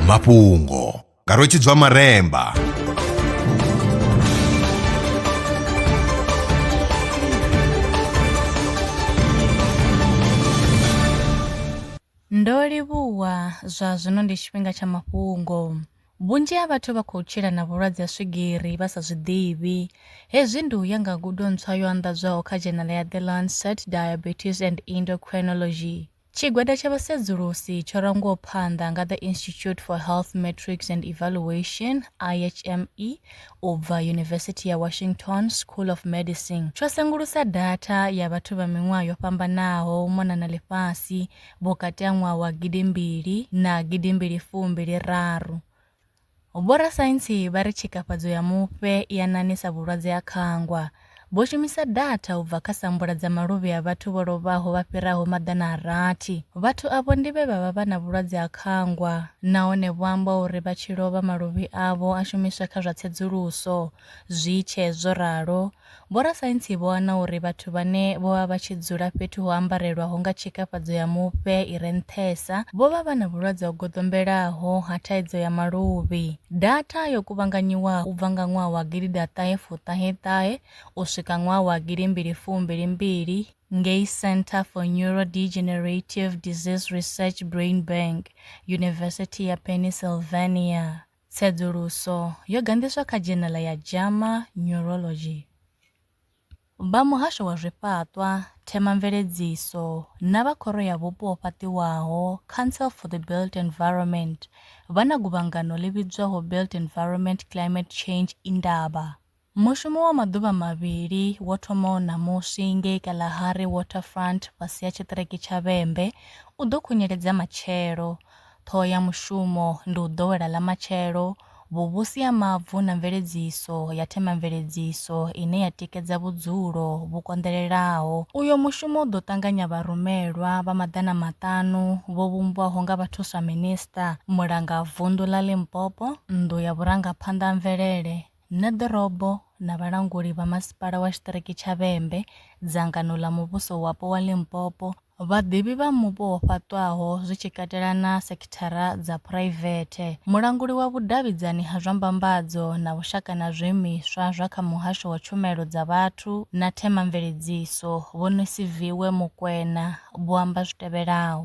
mafhungo nga rwetshidzwa maremba Ndo livhuwa zwa zwino ndi tshifhinga tsha mafhungo. Vhunzhi ha vhathu vha khou tshila na vhulwadze ha swigiri vha sa zwi ḓivhi. Hezwi ndi u ya nga gudo ntswa yo anḓadzwaho kha dzhenala ya The Lancet Diabetes and Endocrinology. Tshigwada tsha vhasedzulusi tsho rangwaho phanḓa nga The Institute for Health Metrics and Evaluation, IHME, u bva Yunivesithi ya Washington School of Medicine tsho sengulusa datha ya vhathu vha miṅwaha yo fhambanaho u mona na ḽifhasi vhukati ha ṅwaha wa gidimbili na gidimbili fumbili raru. Vhorasaintsi vha ri tshikafhadzo ya mufhe i a ṋaṋisa vhulwadze ha khangwa. Vho shumisa datha u bva kha sambula dza maluvhi a vhathu vho lovhaho vha fhiraho maḓana a rathi. Vhathu avho ndi vhe vha vha vha na vhulwadze ha khangwa nahone vho amba uri vha tshi lovha maluvhi avho a shumiswe kha zwa tsedzuluso, zwi tshe zwo ralo, Vhorasaintsi vho wana uri vhathu vhane vho vha vha tshi dzula fhethu ho ambarelwaho nga tshikafhadzo ya mufhe i re nṱhesa vho vha vha na vhulwadze ho goḓombelaho ha thaidzo ya maluvhi. Datha yo kuvhanganyiwaho u bva nga ṅwaha wa gidiḓaṱahefuṱaheṱahe u swika ṅwaha wa gidimbili-fumbili-mbili ngei Centre for Neurodegenerative Disease Research Brain Bank, Yunivesithi ya Pennsylvania. Tsedzuluso yo ganḓiswa kha dzhenala ya JAMA Neurology. Vha Muhasho wa Zwifhaṱwa, Themamveledziso na vha Khoro ya Vhupo ho Fhaṱiwaho, Council for the Built Environment, vha na guvhangano ḽi vhidzwaho Built Environment Climate Change Indaba. Mushumo wa maḓuvha mavhili wo thomaho ṋamusi ngei Kalahari Waterfront fhasi ha tshiṱiriki tsha Vhembe u ḓo khunyeledza matshelo. Ṱhoho ya mushumo ndi u ḓowela ḽa matshelo, vhuvhusi ha mavu na mveledziso ya themamveledziso ine ya tikedza vhudzulo vhu konḓelelaho. Uyo mushumo u ḓo ṱanganya vharumelwa vha maḓana maṱanu vho vhumbwaho nga vhathuswa minisiṱa, mulanga vunḓu ḽa Limpopo, nnḓu ya vhurangaphanḓa ha mvelele, Nṋe ḓorobo na vhalanguli vha masipala wa tshiṱiriki tsha Vhembe, dzangano ḽa muvhuso wapo wa Limpopo, vhaḓivhi vha mupo wo fhaṱwaho zwi tshi katela na sekithara dza phuraivethe, mulanguli wa vhudavhidzani ha zwa mbambadzo na vhushaka na zwiimiswa zwa kha muhasho wa tshumelo dza vhathu na themamveledziso, Vho Nosiviwe Mokoena, vho amba zwi tevhelaho.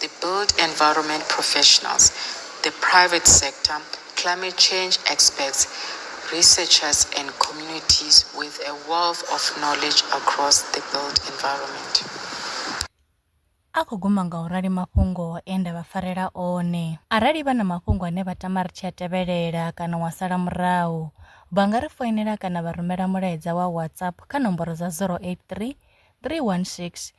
the built environment professionals, the private sector, climate change experts, researchers, and communities with a wealth of knowledge across the built environment. a khou guma nga u rali mafhungo e nda vha farela one arali vha na mafhungo ane vha tama ri tshi a tevhelela kana wa sala murahu vha nga ri foinela kana vha rumela mulaedza wa whatsapp kha nomboro dza 083 316